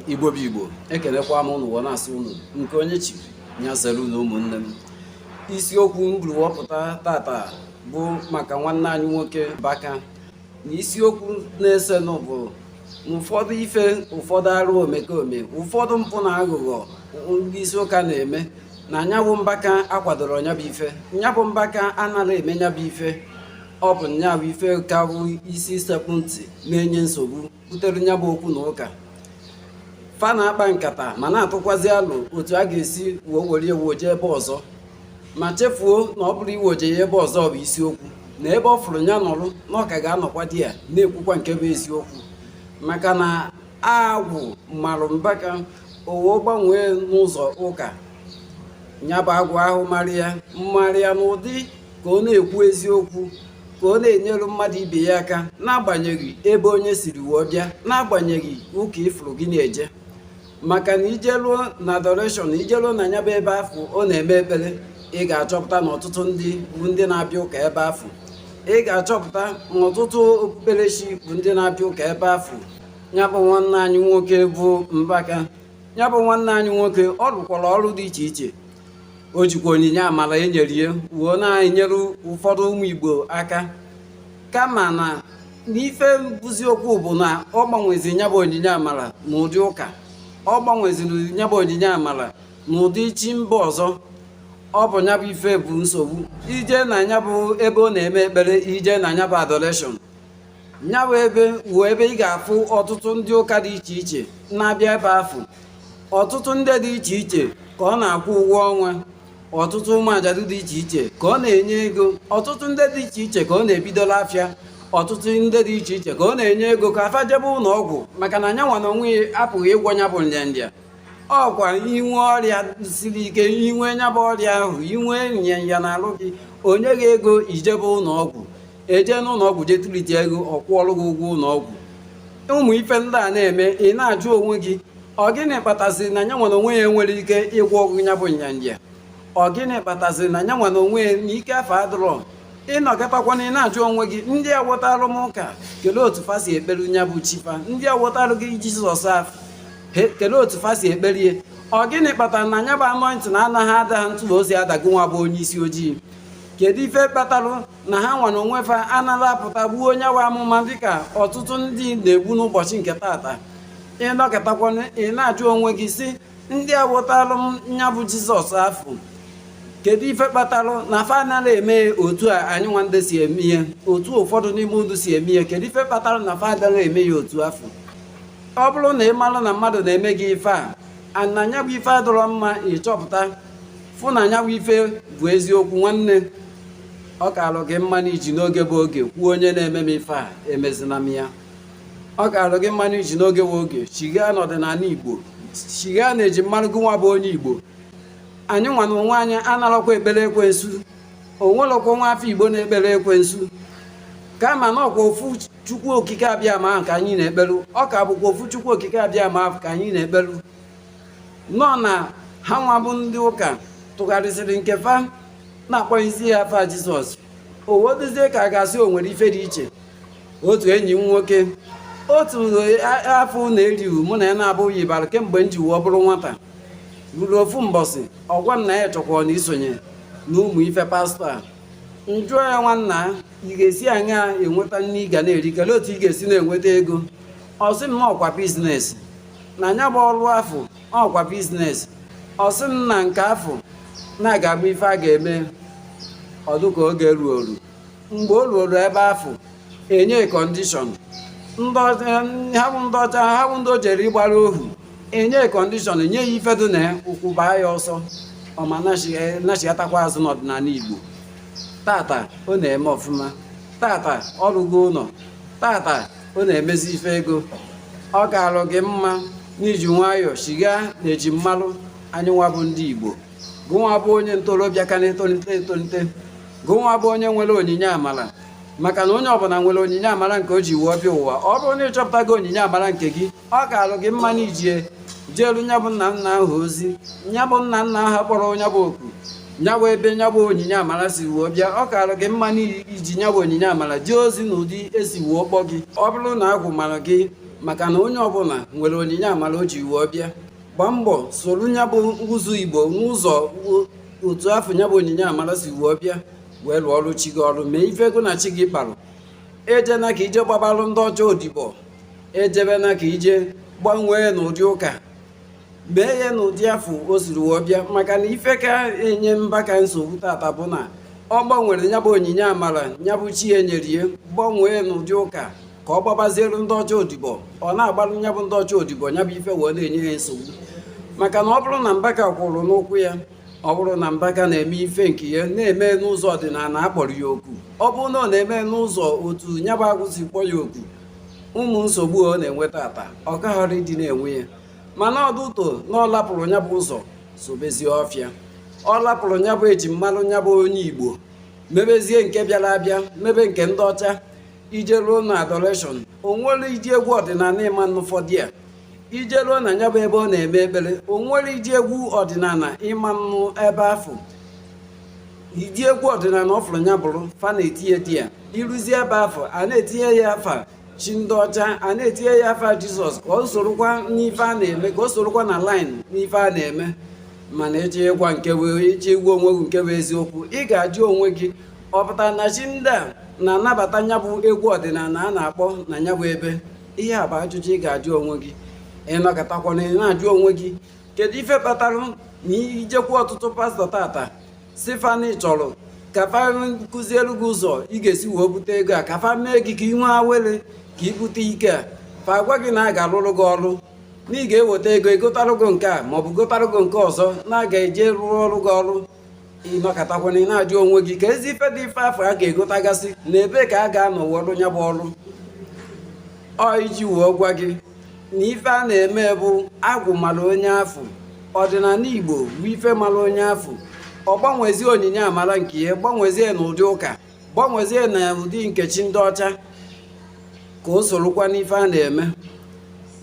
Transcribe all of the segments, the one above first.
igbo bụ igbo ekelekwa m ụnụ na-asị ụnụ nke onye chi nya zere ụlọ ụmụnne m isiokwu m buru wepụta tata bụ maka nwanne anyị nwoke mbaka na isiokwu na-esenụ bụ ụfọdụ ife ụfọdụ arụ omekome ụfọdụ mpụ na aghụghọ ndị isi ụka na-eme na nyabụ mbaka akwadoro nyabụ ife nyabụ mbaka anaghị eme nyabụ ife ọ bụ nyabụ ife ka bụ isi sekpụ ntị na-enye nsogbu butere nya bụ okwu na ụka fa na-akpa nkata ma na-atụkwazi alo otu a ga-esi wee were ya weje ebe ọzọ ma chefuo na ọ bụrọ iweje ya ebe ọzọ bụ isiokwu na ebe ọ fụrụ nya nọrụ na ọ ka ga-anọkwadị ya na-ekwukwa nke bụ eziokwu maka na agwụ marụ mbaka o wee gbanwee n'ụzọ ụka nya bụ agwụ ahụ marụ ya marụ ya n'ụdị ka ọ na-ekwu eziokwu ka ọ na-enyere mmadụ ibe ya aka n'agbanyeghị ebe onye siri wee bịa n'agbanyeghị ụka ị fụrụ gị na-eje maka na i jeruo na adoration i jeruo na nya bụ ebe afụ ọ na-eme ekpere ị ga-achọpụta na ọtụtụ ndị bụ ndị na-abịa ụka ebe afụ ị ga-achọpụta na ọtụtụ okpukperechi bụ ndị na-abịa ụka ebe afụ nya bụ nwanne anyị nwoke bụ mbaka nya bụ nwanne anyị nwoke ọ rụkwara ọrụ dị iche iche o jikwa onyinye amara e nyere ya wee na-enyere ụfọdụ ụmụ Igbo aka kama na n'ife bụzi okwu bụ na ọ gbanwezi nya bụ onyinye amara na ụdị ụka ọ gbanweziri nya bụ onyinye amara na ụdị chi mba ọzọ ọ bụ nya bụ ife bụ nsogbu i jee na nya bụ ebe ọ na-eme ekpere i jee na nya bụ adoration nya bụ ebe wụ ebe ị ga-afụ ọtụtụ ndị ụka dị iche iche na-abịa ebe afụ ọtụtụ ndị dị iche iche ka ọ na-akwụ ụgwọ ọnwa ọtụtụ ụmụ ajadu dị iche iche ka ọ na-enye ego ọtụtụ ndị dị iche iche ka ọ na-ebidola afịa ọtụtụ ndị dị iche iche ka ọ na-enye ego ka fa jebe ụlọ ọgwụ maka na nyanwa na onwe ya apụghị ịgwọ nya bụ nrịanrịa ọkwa i nwee ọrịa siri ike i nwee nya bụ ọrịa ahụ i nwee nrịanrịa n'arụ gị o nye gị ego i jebe ụlọ ọgwụ e jee n'ụlọ ọgwụ jee tụlite ego ọ kwụọrụ gị ụgwọ ụlọ ọgwụ ụmụ ife ndị a na-eme ị na-ajụ onwe gị ọ gịnị kpataziri na nyanwa na onwe ya enwerọ ike ịgwọ gị nya bụ nrịanrịa ọ gịnị kpataziri na nyanwa na onwe ya na ike afụ adịrọ ị nọkatakwanụ ị na-ajụ onwe gị ndị a wotarụ m ụka kelee otu fa si ekpere nya bụ chi fa ndị a wotarụ gị jizọs afụ kelee otu fa si ekpere ya ọ gịnị kpatara na nya bụ anointing na anaghị ada ha ntụlụ ozi ada gịnwa bụ onye isi ojii kedu ife kpatalụ na ha nwa na onwe fa analọ apụta gbuo nya bụ amụma dịka ọtụtụ ndị na-egbu n'ụbọchị nke tata ị nọkatakwa na ị na-ajụ onwe gị sị ndị a wetalụ m nya bụ jizọs afụ kedu ife kpatalụ na fa anaghị eme otu a anyị nwa ndị si eme ihe otu ụfọdụ n'ime ndụ si eme ihe kedu ife kpatalụ na fa anaghị eme ya otu afụ ọ bụrụ na ị malụ na mmadụ na-eme gị ife a na nya bụ ife adịrọ mma ị chọpụta fụ na nya bụ ife bụ eziokwu nwanne ọ kaalụ gị mma na i ji n'oge bụ oge kwuo onye na-eme m ife a emezina m ya ọ kaalụ gị mma na i ji n'oge bụ oge chighaa n'ọdịnala igbo chighaa na eji malụ gị nwa bụ onye igbo anyị nwa na onwe anyị analọkwa ekpere ekwensu onwelọkwa nwa afọ igbo na-ekpere ekwensu kama na ọkwa ofu chukwu okike abịama ahụ ka anyị na-ekpelu ọ ka bụkwa ofu chukwu okike abịama ahụ ka anyị na-ekpelu nọ na ha nwa bụ ndị ụka tụgharịsịrị nke fa na-akpọzi ya afa jizọs o wee dịzie ka a ga-asị o nwere ife dị iche otu enyi m nwoke otu afụ na eriwu mụ na ya na-abụghị bara kemgbe m ji wee bụrụ nwata ruru ofu mbọsị ọ gwa m na ya chọkwara na isonye na ụmụ ife pastọ a m jụọ ya nwanna ị ga-esi aṅaa enweta nni ị ga na-eri kelee otu ị ga-esi na-enweta ego ọ sị m na ọkwa bizinesi na nya bụ ọrụ afụ ọkwa biznes ọ sị m na nke afụ na-aga abụ ife a ga-eme ọ dụ ka oge ruo o ru mgbe o ruoro ebe afụ e nye kọndishọn ha bụ ndị ọcha ha bụ ndị o jere ịgbara ohu e nye kọndishọn e nye ya ife dị na ya ụkwụ baa ya ọsọ ọ ma nachighatakwa azụ n'ọdịnala igbo tata ọ na-eme ọfụma tata ọ rụgo ụlọ tata ọ na-emezi ife ego ọ kaalụ gị mma na i ji nwayọọ chighaa na eji malụ anyị nwa bụ ndị Igbo gụnwa bụ onye ntorobịa ka na-etolite etolite gụnwa bụ onye nwere onyinye amala maka na onye ọbụla nwere onyinye amara nke o ji wee bịa ụwa ọ bụrụ na ị chọpụtago onyinye amara nke gị ọ kaalụ gị mma na i ji ya jeelu nya bụ nna nna ahụ ozi nya bụ nna nna ahụ kpọrọ nya bụ oku nya bụ ebe nya bụ onyinye amara si wee bịa ọ kaalụ gị mma na i ji nya bụ onyinye amara jee ozi n'ụdị e si wee kpọọ gị ọ bụrụ na agwụ mara gị maka na onye ọbụla nwere onyinye amara o ji wee bịa gbaa mbọ soro nya bụ ụzọ igbo n'ụzọ otu afụ nya bụ onyinye amara si wee bịa wee lụọ ọrụ chi gị ọrụ mee ife gị na chi gị kparụ ejena ka i je gbabalụ ndị ọcha odibo ejebena ka i je gbanwee n'ụdị ụka mee ya n'ụdị afụ o siri wee bịa maka na ife ka enye mbaka nsogbu tata bụ na ọ gbanwere nya bụ onyinye amara nya bụ chi ya nyere ya gbanwee n'ụdị ụka ka ọ gbabaziere ndị ọcha odibo ọ na-agbalụ nya bụ ndị ọcha odibo nya bụ ife wee na-enye ya nsogbu maka na ọ bụrụ na mbaka kwụrụ n'ụkwụ ya ọ bụrụ na mbaka na-eme ife nke ya na-eme n'ụzọ ọdịnala akpọrọ ya oku ọ bụrụ na ọ na-eme n'ụzọ otu nya bụ agwụ si kpọ ya oku ụmụ nsogbu ọ na-enwe tata ọ kaghara ịdị na-enwe ya mana due to na ọ lapụrụ nya bụ ụzọ sobezie ọfịa ọ lapụrụ nya bụ eji malụ nya bụ onye igbo mebezie nke bịara abịa mebe nke ndị ọcha i jeruo na adoration o nwerọ ụdị egwu ọdịnala ịma n'ụfọdụ ya i jeruo na nya bụ ebe ọ na-eme ekpere o nwerọ ụdị egwu ọdịnala ị ma-anụ ebe afụ ụdị egwu ọdịnala ọ fụrụ nya bụrụ fa na-etinye di ya i ruzie ebe afụ a na-etinye ya afa chi ndị ọcha a na-etinye ya afa jizọs ka ọ sorokwa n'ife a na-eme ka ọ sorokwa na line n'ife a na-eme mana ịgwa ị chọọ ịgwa onwe gị nke bụ eziokwu ị ga-ajụ onwe gị ọ pụtara na chi ndị a na-anabata nya bụ egwu ọdịnala a na-akpọ na nya bụ ebe ihe a bụ ajụjụ ị ga-ajụ onwe gị ị nọkatakwana ị na-ajụ onwe gị kedu ife kpatara na i jekwuu ọtụtụ pastọ tata sị fa na ị chọrọ ka fa kụzielu gị ụzọ ị ga-esi wee bute ego a ka fa mee gị ka ị nwee awele ka ị bute ike a fa agwa gị na a ga-arụrụ gị ọrụ na ị ga-eweta ego egotarụ gị nke a maọbụ gotarụ gị nke ọzọ na a ga-eji rụọrụ gị ọrụ ị nọkatakwana ị na-ajụ onwe gị kedụzi ife bụ ife afụ a ga-egotagasị na ebe ka a ga-anọ wee rụ nya bụ ọrụ ọ iji wee gwa gị na ife a na-eme bụ agwụ mara onye afụ ọdịnala igbo bụ ife mara onye afụ ọ gbanwezie onyinye amara nke ya gbanwezie n'ụdị ụka gbanwezie na ụdị nke chi ndị ọcha ka o sorokwa n'ife a na-eme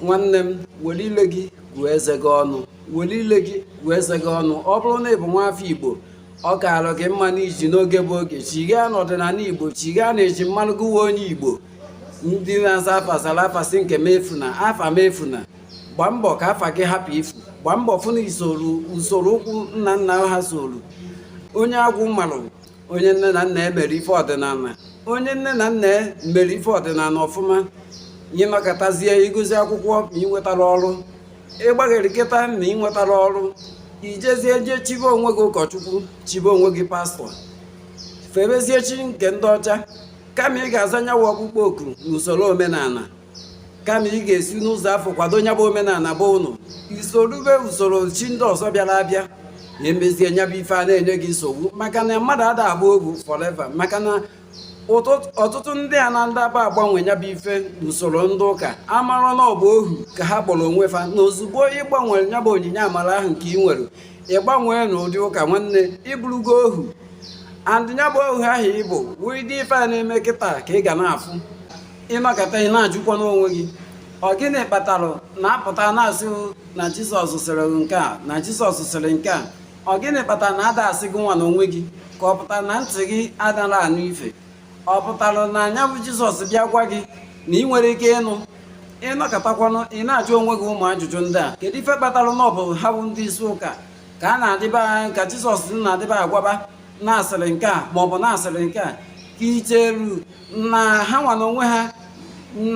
nwanne m were ile gị gụọ eze gị ọnụ were ile gị gụọ eze gị ọnụ ọ bụrụ na ị bụ nwa afọ igbo ọ kaara gị mma n'iji n'oge bụ oge chighaa n'ọdịnala igbo chighaa na eji marụ gị bụ onye igbo ndị na-aza afa zara afa sị nke m efuna afa m efuna gbaa mbọ ka afa gị hapụ ifu gbaa mbọ fụ na usoro ụkwụ nna nna ha soro onye agwụ marụ onye nne na nna ya mere ife ọdịnala onye nne na nna ya mere ife ọdịnala ọfụma ị nọkatazie ị gụsịa akwụkwọ ma ị nwetarọ ọrụ ị gbagharịkata ma ị nwetarọ ọrụ i jezie jee chibe onwe gị ụkọchukwu chibe onwe gị pastọ febezie chi nke ndị ọcha kama ị ga-aza nya bụ ọkpụkpọ oku n'usoro omenala kama ị ga-esi n'ụzọ afụ kwado nya bụ omenala be unu i sorube usoro chi ndị ọzọ bịara abịa na emezie nya bụ ife a na-enye gị nsogbu maka na mmadụ ada abụ ohu forever maka na ọtụtụ ndị a na ndaba agbanwe nya bụ ife n'usoro ndị ụka amarọ na ọ bụ ohu ka ha kpọrọ onwe fa na ozugbo ị gbanwere nya bụ onyinye amara ahụ nke ị nwere ị gbanwee na ụdị ụka nwanne ị bụrụgo ohu and nya bụ ohu ahụ ị bụ wụ ụdị ife a na-eme kịta ka ị ga na-afụ ị nọkata ị na-ajụkwa n'onwe gị ọ gịnị kpatara na a pụta na-asị na jizọs sịrị nke a na jizọs sịrị nke a ọ gịnị kpatara na ada asị gị nwa na onwe gị ka ọ pụtara na ntị gị adara anụ ife ọ pụtara na nya bụ jizọs bịa gwa gị na ị nwere ike ịnụ ị nọkatakwanụ ị na-ajụ onwe gị ụmụ ajụjụ ndị a kedu ife kpatara na ọ bụ ha bụ ndị isi ụka ka a na-adịba ka jizọs na-adịba agwaba na a sịrị nke a maọbụ na a sịrị nke a ka i cheru na ha nwa na onwe ha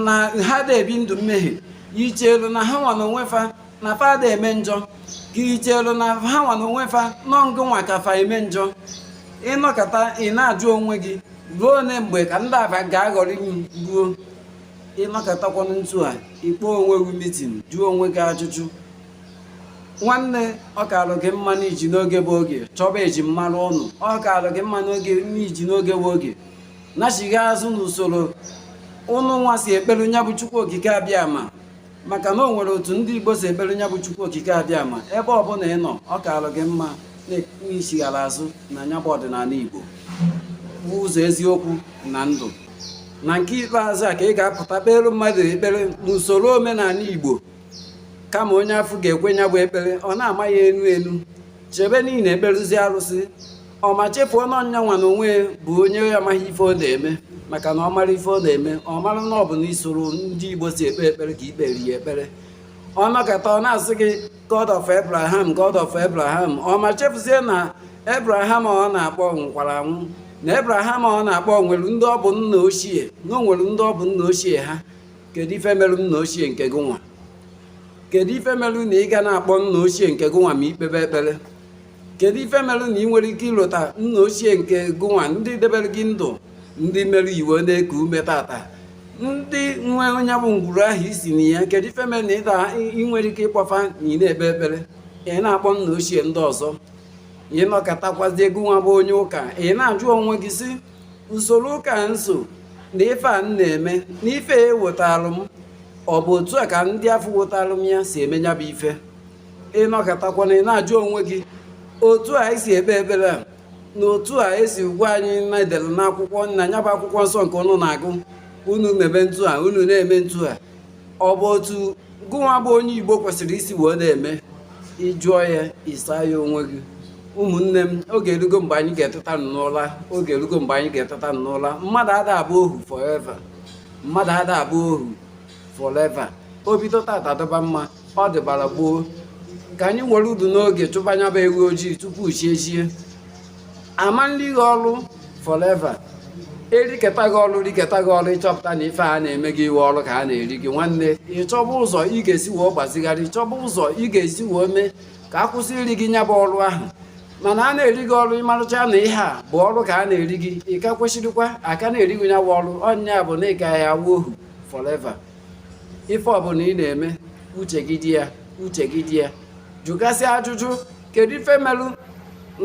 na ha da ebi ndụ mmehie i chelu na ha nwa na onwe fa na fa da eme njọ ka i chelu na ha nwa na onwe fa na ọ ngụ nwa ka fa eme njọ ị nọkata ị na-ajụ onwe gị ruo ole mgbe ka ndị aba ga-aghọrị m ruo ị nọkatakwanụ ntu a ị kpọọ onwe gị mitin jụọ onwe gị ajụjụ nwanne ọ kalụ gị mma n'iji n'oge bụ oge chọba eji mmanụ ụnụ ọ kalụ gị mma n'oge n'iji n'oge bụ oge nachigha azụ n'usoro unu nwa si ekpere nya bụ chukwu okike abịama maka na o nwere otu ndị igbo si ekpere nya bụ chukwu okike abịama ebe ọbụla ị nọ ọ kaalụ gị mma na ị chighara azụ na nya bụ ọdịnala igbo bụ ụzọ eziokwu na ndụ na nke ikpeazụ a ka ị ga-apụta kpere mmadụ ekpere n'usoro omenala igbo kama onye afọ ga-ekwe nya bụ ekpere ọ na-ama ya enu enu chebe na ị na-ekperụzi arụsị ọ ma chefuo na ọ nya nwa na onwe bụ onye amaghị ife ọ na-eme maka na ọ mara ife ọ na-eme ọ mara na ọ bụ na usoro ndị igbo si ekpe ekpere ka i kpere ya ekpere ọ nọkata ọ na-asị gị god of abraham god of abraham ọ ma chefuzie na abraham ọ na-akpọ nwụkwara anwụ na abraham ọ na-akpọ nwere ndị ọ bụ nna ochie na o nwere ndị ọ bụ nna ochie ha kedu ife merụ nna ochie nke gị nwa kedu ife merụ na ị ga na-akpọ nna ochie nke gị nwa ma i kpebe ekpere kedu ife merụ na ị nwere ike ilota nna ochie nke gị nwa ndị debere gị ndụ ndị mere i wee na-eku ume tata ndị nwe nya bụ ngwuru ahụ i si na ya kedu ife mere na ịda ị nwere ike ịkpọ fa na ị na-ekpe ekpere ị na-akpọ nna ochie ndị ọzọ ị nọkatakwazi gụnwa bụ onye ụka ị na-ajụ onwe gị sị usoro ụka a m so na ife a m na-eme na ife e wetalụ m ọ bụ otu a ka ndị afọ wetalụ m ya si eme nya bụ ife ị nọkatakwana ị na-ajụ onwe gị otu a e si ekpe ekpere a na otu a e si gwa anyị na e dere n'akwụkwọ na nya bụ akwụkwọ nsọ nke unu na-agụ unu mebe ntu a unu na-eme ntu a ọ bụ otu gụnwa bụ onye igbo kwesịrị isi wee na-eme ị jụọ ya ị saa ya onwe gị ụmụnne m oge erugo mgbe anyị ga-eteta n'ụla oge erugo mgbe anyị ga-eteta n'ụla mmadụ ada abụ ohu forever mmadụ ada abụ ohu forever o bido tata dịba mma ọ dịbara gboo ka anyị nwere udu n'oge chụba nya bụ ewu ojii tupu chi ejie a ma na-eri gị ọrụ forever eriketa gị ọrụ riketa gị ọrụ ịchọpụta na ife a na-eme gị iwe ọrụ ka a na-eri gị nwanne ịchọba ụzọ ị ga-esi wee gbazigharị ịchọba ụzọ ị ga-esi wee mee ka a kwụsị iri gị nya bụ ọrụ ahụ mana a na-eri gị ọrụ ịmarụcha na ihe a bụ ọrụ ka a na-eri gị ị ka kwesịrịkwa a ka na-eri gị nya bụ ọrụ ọ nya bụ na ị ka ya-awụ ohu forever ife ọbụla ị na-eme uche gị dị ya uche gị dị ya jụgasịa ajụjụ kedu ife melụ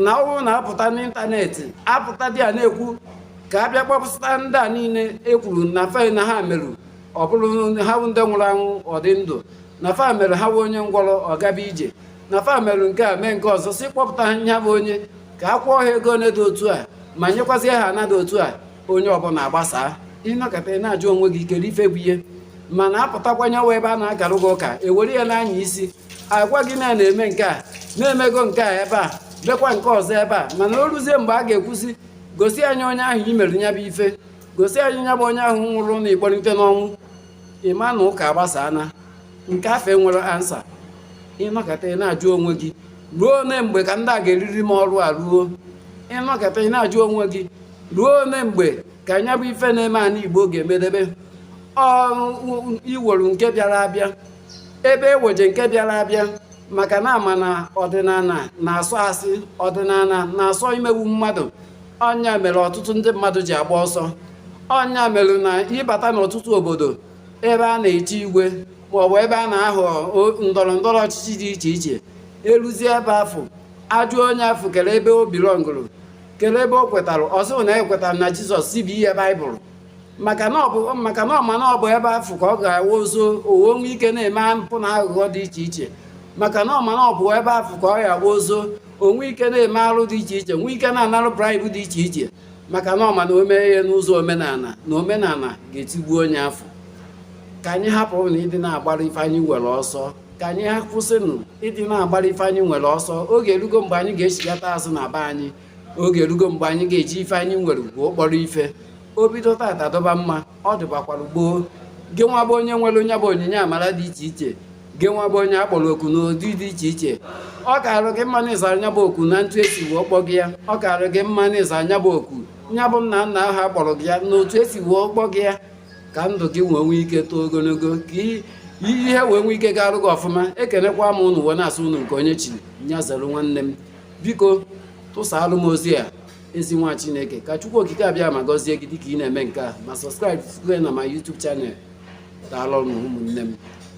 na ọ wụ na apụta n'ịntanetị apụta dị a na-ekwu ka a bịa kpọpụta ndị a niile ekwuru na fa na ha merụ ọ bụrụ ha ndị nwụrụ anwụ ọ dị ndụ na fa mere ha bụ onye ngwọrọ ọ gaba ije na fa mere nke a mee nke ọzọ sị kpọpụta ha nya bụ onye ka a kwụọ ha ego ole dị otu a ma nyekwazie ha ana dị otu a onye ọbụla agbasaa ị nọkata ị na-ajụ onwe gị kedu ife bụ ihe mana apụtakwanye wa ebe a na-akarụ gị ụka ewere ya n'anya isi agwa gị na na-eme nke a na emego nke a ebe a lekwa nke ọzọ ebe a mana o ruzie mgbe a ga-ekwu sị gosi anyị onye ahụ i mere nya bụ ife gosi anyị nya bụ onye ahụ nwụrụ na ị kpọlite n'ọnwụ ị ma na ụka agbasaana nke afụ enwerọ ansa ị nọkata ị na-ajụ onwe gị ruo ole mgbe ka ndị a ga-eriri m ọrụ a ruo ị nọkata ị na-ajụ onwe gị ruo ole mgbe ka nya bụ ife na-eme ana igbo ga-emedebe iwere nke bịara abịa ebe eweje nke bịara abịa maka na a ma na ọdịnala na-asọ asị ọdịnala na-asọ imegbu mmadụ ọ nya mere ọtụtụ ndị mmadụ ji agba ọsọ ọ nya mere na ị bata n'ọtụtụ obodo ebe a na-echi igwe maọbụ ebe a na-ahọ ndọrọ ndọrọ ọchịchị dị iche iche eruzie ebe afụ ajụọ onye afụ kere ebe ọ bilọngụrụ kere ebe o kwetara ọ sịrị na ekwetara na jizọs sị bunye baịbụl maka na ọ ma na ọ bụ ebe afụ ka ọ ga-awa zoo o wee nwe ike na-eme mpụ na aghụghọ dị iche iche maka na ọ ma na ọ bụ ebe afụ ka ọ ga-awa zoo o nwe ike na-eme arụ dị iche iche nwe ike na-anarụ braịbụ dị iche iche maka na ọ ma na o mee ihe n'ụzọ omenala na omenala ga-etigbu onye afụ ka anyị hapụ na ịdị na-agbara ife anyị nwere ọsọ ka anyị ha kwụsịnụ ịdị na-agbara ife anyị nwere ọsọ oge erugo mgbe anyị ga-echigata azụ na be anyị oge erugo mgbe anyị ga-eji ife anyị nwere wee kpọrọ ife o bido tata dịba mma ọ dịbakwara gboo gị nwa bụ onye nwere nya bụ onyinye amara dị iche iche gị nwa bụ onye akpọrọ oku n'ụdị dị iche iche ọ karụ gị mma na ịza nya bụ oku na otu esi wee kpọ gị ya ọ karụ gị mma na ịza nya bụ oku nya bụ nna nna ahụ akpọrọ gị ya na otu esi wee kpọ gị ya ka ndụ gị wee nwee ike too ogologo ka i- ihe wee nwee ike gaarụ gị ọfụma ekenekwa m unu wee na-asị unu nke onye chiri ya zere nwanne m biko tụsaalụ m ozi a ezi nwa chineke ka chukwu okike abịama gọzie gị dịka ị na-eme nke a ma sọbskraịbụ na my YouTube channel daalụ ụmụnne m